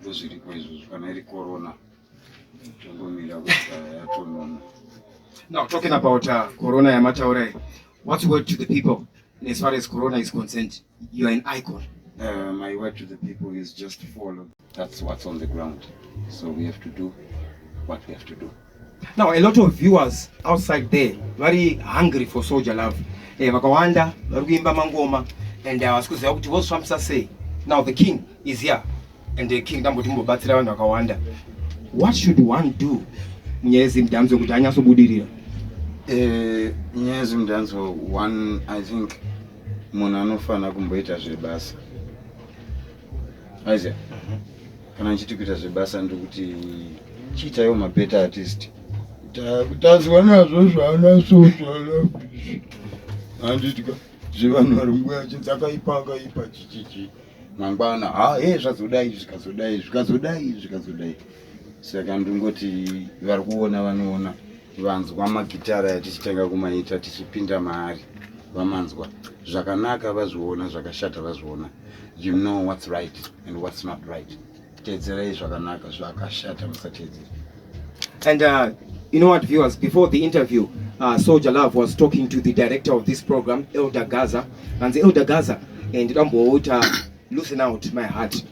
ndozviripo izvozvo kana iri corona tongomira kuti yatonona now talking about uh, corona yamataura iyi what's word to the people as far as corona is concerned you are an icon uh, my word to the people is just follow that's what's on the ground so we have to do what we have to do Now a lot of viewers outside there very hungry for soldier love. Eh, vakawanda vari kuimba mangoma and uh, havasi kuziva kuti vozvifambisa sei. Now the king is here and the king ndamboti mumbobatsira vanhu vakawanda. What should one do munyaya yezimudhanzo kuti anyatsobudirira? Eh, nyaya yezimudhanzo one I think munhu anofanira kumboita zvebasa Isaac, kana ndichiti kuita zvebasa ndokuti chiitaiwo mabeta artist kutadzwa nazvo zvaana sozvaana fishi handitya zvevanhu vari nguva yachinzi akaipa akaipa chichichi mangwana ha he zvazodai zvikazodai zvikazodai zvikazodai saka ndingoti vari kuona vanoona vanzwa magitara yatichitenga kumaita tichipinda maari vamanzwa zvakanaka vazviona zvakashata vazviona you know what's right and what's not right teedzerai zvakanaka zvakashata musateedzera and uh, you know what viewers before the interview uh, soldier love was talking to the director of this program elder gaza and the elder gaza and ndidamboita loosen out my heart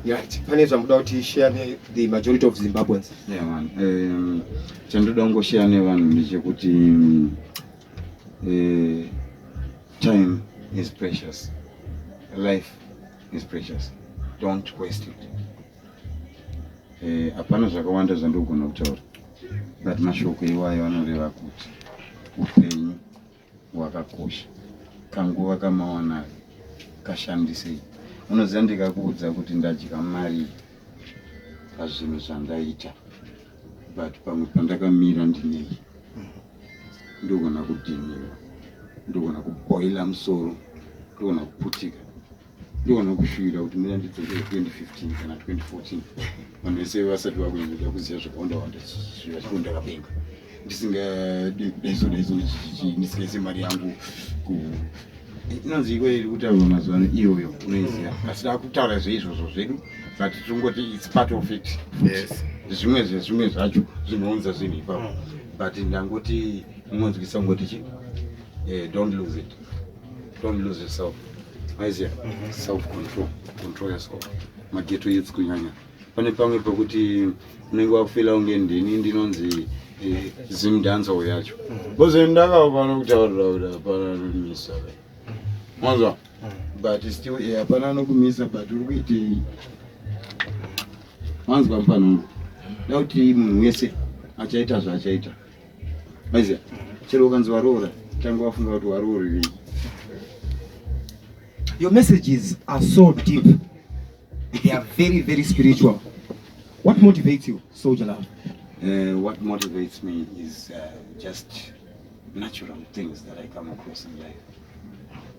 Right. Pane zvamuda kuti share ne the majority of Zimbabweans. Yeah man. Um, chandoda kungoshare nevanhu ndechekuti um, uh, time is precious. Life is precious. Don't waste it. Eh, hapana uh, zvakawanda zvandogona kutaura but mashoko iwayo anoreva kuti upenyu wakakosha kanguva kamawanayo kashandisei unoziva ndikakuudza kuti ndadya mari pazvinhu zvandaita but pamwe pandakamira ndinei ndogona kudhiniwa ndogona kuboila musoro ndogona kuputika Ndoona kushuvira kuti muna ndidzoke 2015 kana 2014 vanhu vese vasati vakunyanyira kuziva zvakawanda wanda zviva zvekundakapenga ndisingadi daiso daiso ndisingaise mari yangu ku inonzi iko iri kutaurwa mazuva ano iyoyo unoiziva asi takutaura zveizvozvo zvedu but tingoti its part of it yes zvimwe zvezvimwe zvacho zvinounza zvinhu ipapo mm. but ndangoti munonzwisa kungoti chi eh, don't lose it Don't lose yourself. Aizia, mhm. self control, control yourself. Mageto youth kunyanya. Pane pamwe pekuti unenge wafila unge ndini ndinonzi eh, Zim dancer uyacho. Mhm. Bozo ndaka pano kutaurira kuti hapana misa. Mwanzo. Mhm. But still eh, hapana anokumisa but uri kuitei? Mwanzo pampanongo. Dauti munhu wese achaita zvaachaita. maiziva chero ukanzi waroora tanga wafunga kuti waroorerei your messages are so deep they are very very spiritual what motivates you soldier love uh, what motivates me is uh, just natural things that i come across in life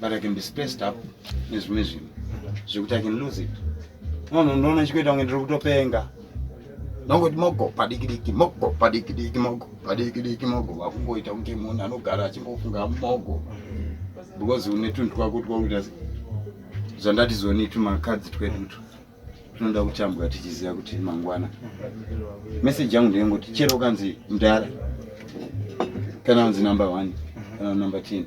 but i can be spaced up nezvimwe zvinhu zvekuti i can lose it munhu unoona chikuita kunge ndiri kutopenga nongoti mogo padiki diki mogo padiki diki mogo padiki diki mogo vakungoita kunge munhu anogara achingofunga mogo because une tunhu twako twakuita zvandati zoni tumakadzi twedutu tunoda kutambwa tichiziva kuti mangwana meseji yangu ndeyengoti chero ukanzi mdara kana unzi number one kana number ten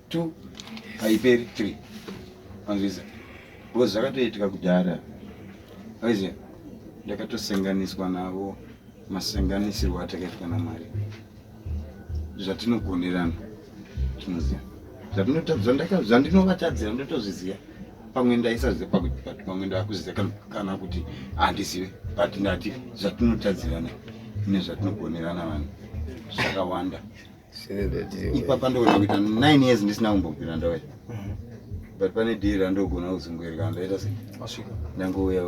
2 haiperi 3 anzwisa because zvakatoitika kudhara aiziva ndakatosenganiswa navo masenganisirwo atakaitwa namwari zvatinogonerana tinoziva zvandinovatadzira ndotozviziva pamwe ndaisaziva pakuti but pamwe ndakuzviziva kana kuti handizive but ndati zvatinotadzirana nezvatinogonerana vanhu zvakawanda ipapa ndoona kuita nine years ndisina kumbobvira ndauya mhm. but pane dhiri randogona kuzunguirika ndoita se ndangouya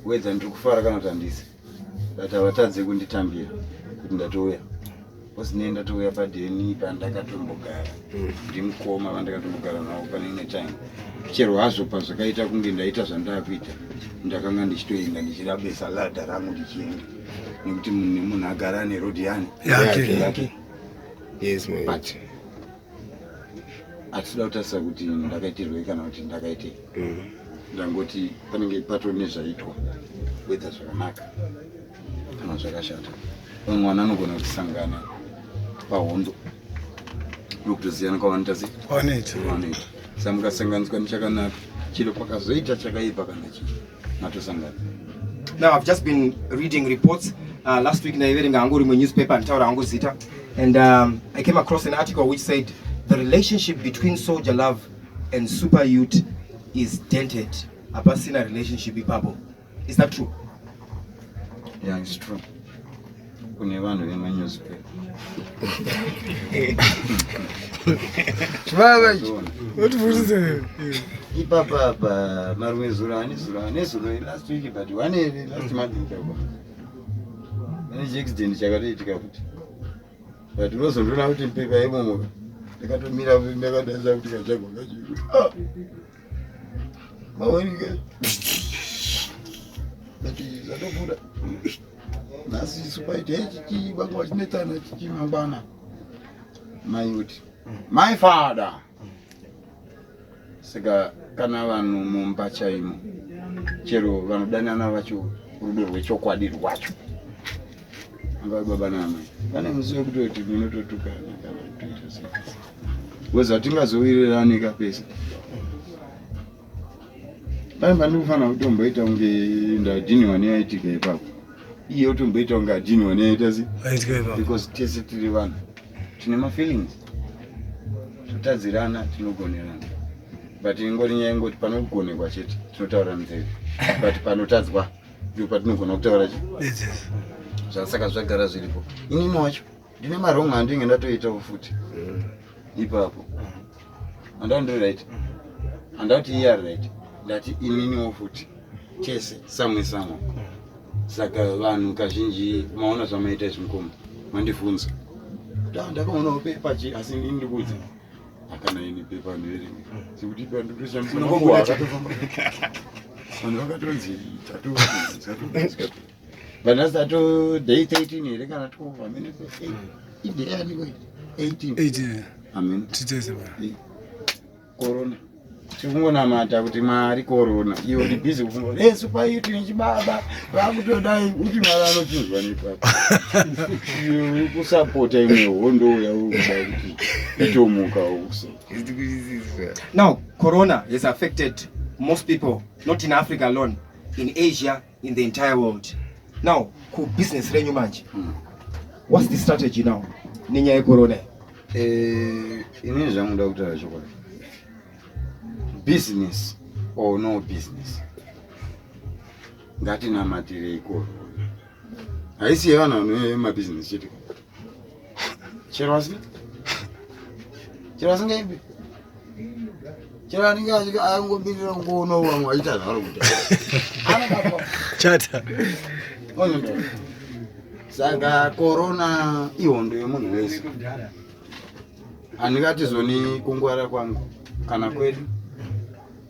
wedza ndiri kufara kana kuti handisi but havatadze kunditambira kuti ndatouya bcause nei ndatouya padheni pandakatombogara mhm. ndimukoma vandakatombogara navo pane ine time chero hazvo pazvakaita kunge ndaita zvandakuita ndakanga ndichitoenda ndichirabesa ladha rangu ndichienda nekuti munhu agara ane road yani yake yake yes my but atida kutarisa kuti ndakaitirwei kana kuti ndakaitei mm. ndangoti panenge pato nezvaitwa wedza zvakanaka kana zvakashata vamwe vana anogona kusangana pahondo nokutosiyana kwavanoita se kwavanoita sa mukasanganiswa nechakanaka chiro kwakazoita chakaipa kana chii Matosangana. Now I've just been reading reports uh, last week ndaiverenga hangu rimwe newspaper nditaura hangu zita and um, I came across an article which said the relationship between soldier love and super youth is dented hapasina relationship ipapo is that true yeah it's true kune vanhu vemanewspaper ipapa apa marume zuro ane zuro ane zuro last week but one ere last month ikako ane chiaccident chakatoitika futi but lozondiona kuti mpepa yemomoka ndakatomira ndakadaza kuti kachagwa kacho mawanika ati zvatobuda nhasi isu paita ichichii vanga vachinetsana chichii mangwana mai uti mai fada saka kana vanhu mumba chaimo chero vanodanana vacho rudo rwechokwadi rwacho anga baba namai vane musi wekutoti munototukana kana kutoita sei Weza tingazowirirani ka pese. Pai mani kufana kutomba ita unge nda jini wani ya itika ipa. Iye utomba ita unge jini wani ya ita si. Itika ipa. Because tese tiri vanhu. Tine ma feelings. Tutadzirana tinogonerana. But ingori nyaya ingoti panogonekwa chete tinotaura nzeve. But panotadzwa ndipo patinogona kutaura chete. Zvasaka zvagara zviripo. Inini wacho ndine marong andinge ndatoitawo futi mm. ipapo andava ndiri right andati iye ari right ndati ininiwo futi tese samwe samwe saka vanhu kazhinji maona zvamaita izvi mukoma mandivhunza ndaa ndakaonawo pepa chi asi ini ndikuudza akana ini pepa ndoerenga sekuti ipa ndikutoshandisa vanhu vakatonzi tatu Vana sato day 13 here kana 12 amene ko. Idea yani ko 18. 18. Amen. Titese ba. Corona. tikungonamata kuti mwari korona iyo ndi busy kufunga kuti yesu paiyo tine chibaba vakutodai uti mwari anochinzwa nepapa kusapota imwe hondo uya urikudai kuti itomuka uso now corona has affected most people not in africa alone in asia in the entire world now ku business renyu manje mm. what's the strategy now nenyaya yecorona eh, inini zvangu nda kutaura chokwadi business or no business ngatinamatirei corona haisi yevanhu vanoe mabusiness chete chero asi chero asingaimbi chero anenge angomirira kungoona vamwe vaita zvaro kuti chata saka korona ihondo yemunhu wese handingatizoni kungwara kwangu kana kwedu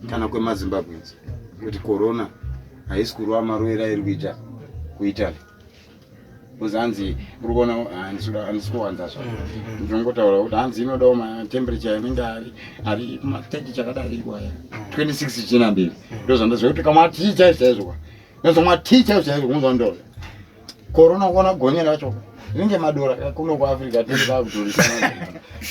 kana kwemazimbabwens kuti korona haisi kurwa maroera iri kuita kuitaly because hanzi uri kuona handisi kuwanza zva ndinongotaura kuti hanzi inodawo matemperature anenge ari ari mateti chakadari iwaya 26 china mbiri ndozvandaziva kuti kamwa tii chaivo chaizvoka ndozomwa tii chaivo chaizvo kunzwa ndoo korona kuona gonye racho ringe madora kuno kuafrica tirivakutorisana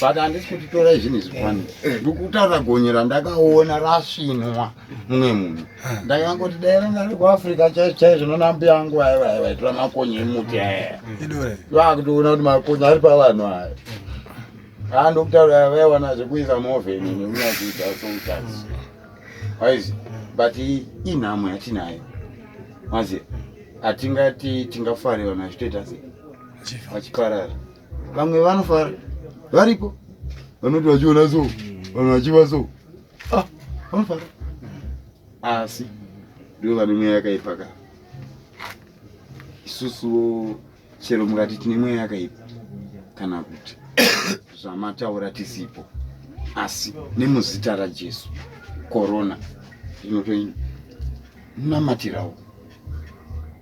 but handisi kutitorai zvinhu izvi kwani ndikutaura gonye randakaona rasvinwa mumwe munhu ndakangoti dai ranga ri kuafrica chaizvo chaizvo noona mbuya angu vaya vaya vaitora makonye emuti aya vakutoona kuti makonye ari pavanhu aya andokutaura vaiwana zvekuisa movheni nekunakuita sotas waizi but inhamo yatinayo mazi hatingati tingafare vanhu vachitoita se vachiparara vamwe vanofara varipo vanoti vachiona so vanhu vachiva so Ah, vafara. Asi ndivo vane mweya yakaipa ka. Isusuwo chero mukati tine mweya yakaipa kana kuti zvamataura tisipo asi nemuzita rajesu korona inotoinamatirawo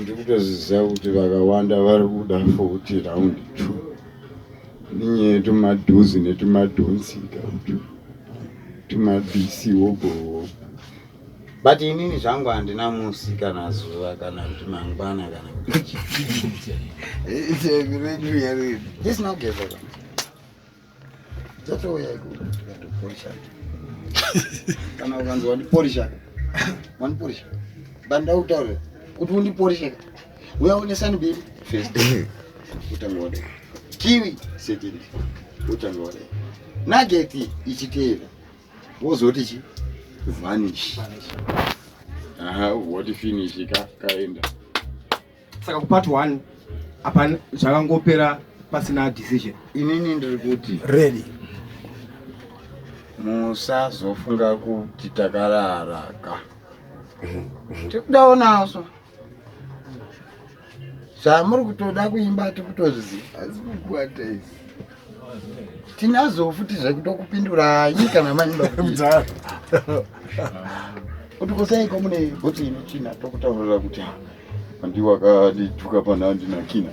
ndikutoziva kuti vakawanda vari kuda futi round two ninye tumadhuzi netumadhonsika tumabisi wogowo but inini zvangu handina musi kana zuva kana kuti mangwana kana kuti dzatouya ikuda kuporisha kana ukanzi wandiporisha wandiporisha banda utaure kuti undiporishe uya unesani bill first utanga wade kiwi second utanga wade nageti ichiteera wozoti chi vanish aha woti finish ka kaenda saka kupart one apa zvakangopera pasina decision inini ndiri kuti ready musazofunga kuti takararaka tikudaonaso zvamuri kutoda kuimba tikutozviziva asi kukwata izi tinazo futi zvekutokupindurai kana maimba kuti kusaiko mune bhoti ine china tokutaurira kuti Andi wakadituka pana andina kina.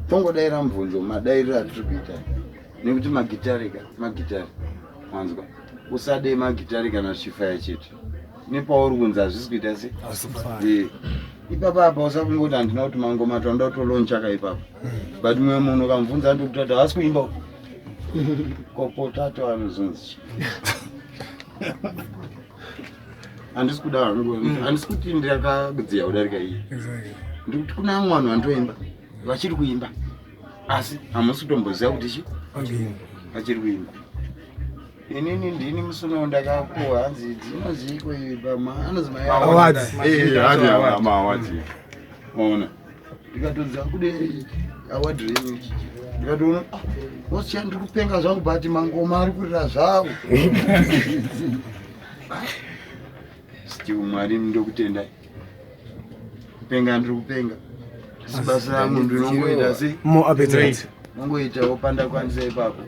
Tongodaira mubvunzo madairiro atiri kuita nekuti magitare ka magitare wanzwa usade magitare kana zvichifaya chete nepauri kunzi hazvisi kuita se eh, ipapa apa usakungoti handina kuti mangoma tanoda kutolonchaka ipapa but mumwe munhu ukamubvunza andikuti ati havasi kuimba kopotato anozonzi handisi kuda hangu mm. handisi kuti ndakadziya kudarika iyi ndikuti kuna amwe vanhu vanotoimba vachiri kuimba asi hamusi kutomboziva kuti chi vachiri kuimba inini ndini musuno ndakapuwa hanzi dzinoziiko iyi pama anozimaawadziona ndikatoziva kude awadrei ndikatoona ah, wasiya ndiri kupenga zvangu but mangoma ari kurira zvavo still mwari ndokutendai kupenga ndiri kupenga sibasa rangu ndinongoita se nongoita wopanda kwanisa ipapo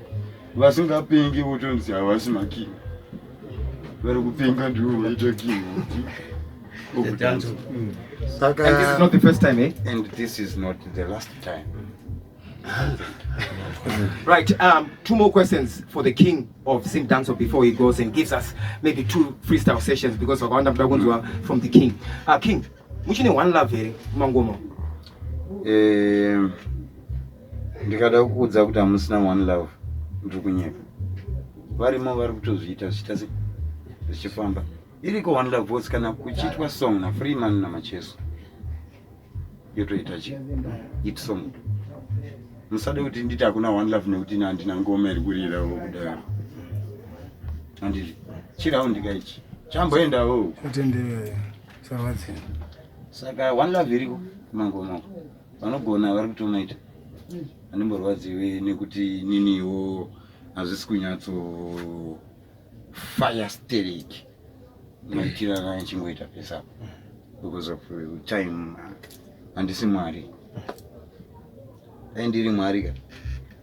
vasingapengi votonzi havasi making vari kupenga ndivo vaita king right um two more questions for the king of sim dancer before he goes and gives us maybe two freestyle sessions because vakawanda muda kunzwa from the king uh, king muchine one love here mangoma um, ndikada kukuudza kuti hamusina one love ndiri kunyepa varimo vari kutozviita zvichita se zvichifamba iriko one love voice kana kuchiitwa song nafree man namacheso yotoita chi it song musade kuti nditi hakuna one love nekuti ini handina ngoma iri kurira wo kudaro handiti chiraundi ka ichi chamboendawo kutenderera sarwadzira saka one love iriko kumangomako vanogona vari kutomaita mm. andimborwadziwe nekuti niniwo hazvisi kunyatso fire steric maitira kana chingoita pesa because of uh, time handisi mwari dai ndiri mwari ka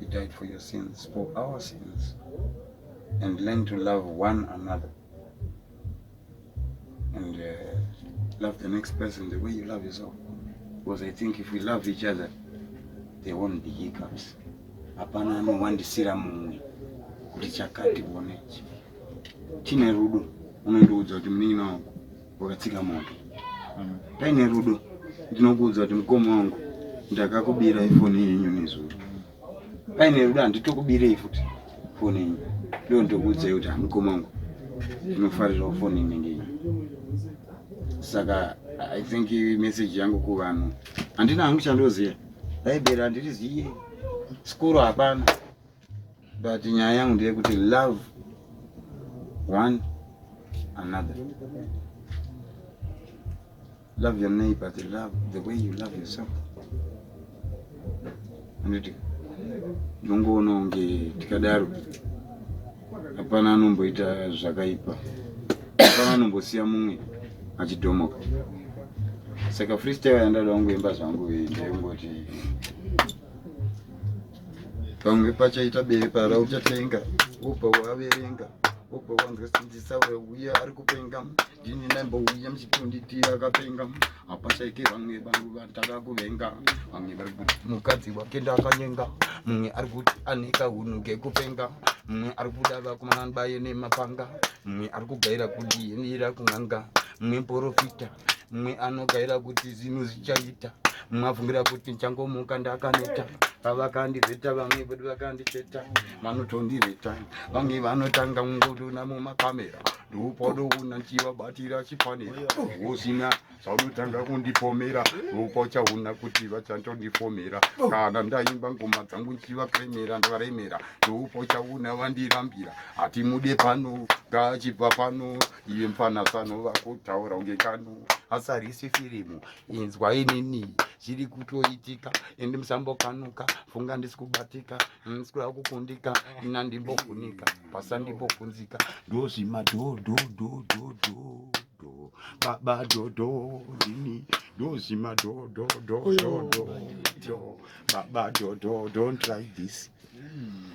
He died for your sins, for our sins. And learn to love one another. And uh, love the next person the way you love yourself. Because I think if we love each other, there won't be hiccups. Hapana anowandisira mumwe kuti chakati one. Tine rudo, unondiudza kuti munin'ina wangu wakatsika moto mm. paine rudo ndinokuudza kuti mukoma wangu ndakakubira ifoni yenyu nezuro paine rudo handitokubirei futi foni yenyu ndo ndokuudzai kuti hamukoma wangu ndinofarirawo foni inenge inyu saka i think message yangu kuvanhu handina hangu chandoziva laiberi handiriziye sikuru hapana but nyaya yangu ndeyekuti love one another love your neighbor the love the way you love yourself anditi ndongoona kunge tikadaro hapana anomboita zvakaipa hapana anombosiya mumwe achidhomoka saka freestyle yandada kungoimba zvangu iyi ndeyongoti pamwe pachaita bepara uchatenga ubva waverenga ubva wanzwa sinzisa uya ari kupenga ndini naimbouya muchitonditira akapenga hapashaike vamwe vanhu vataka kuvenga vamwe vari kuti mukadzi wake ndakanyenga mumwe ari kuti aneka hunhu kekupenga mumwe ari kuda vakumanani baye nemapanga mumwe ari kugaira kuti yenira kun'anga mumwe porofita mumwe anogaira kuti zvinhu zvichaita mumwe abvumira kuti ndichangomuka ndakaneta pavakandivheta vamwe vedu vakandivheta vanotondivheta vamwe vanotanga kungodona mumakamera ndopadoona ndichivabatira chifanira usina zvaunotanga kundipomera ndopa uchaona kuti vachandondifomera kana ndaimba ngoma dzangu ndichivakremera ndavaremera ndopa uchaona vandirambira hatimude pano ngaachibva pano iye mfana sano vakutaura unge kano asarisi firimu inzwa inini zviri kutoitika endi musambokanuka funga ndisi kubatika ndisikuda kukundika ina ndimbofunika pasa ndimbofunzika ndozvima dhodhodhodhodho baba dodo ndini ndozvima dhodhodhodhodho baba dodo don't try this mm.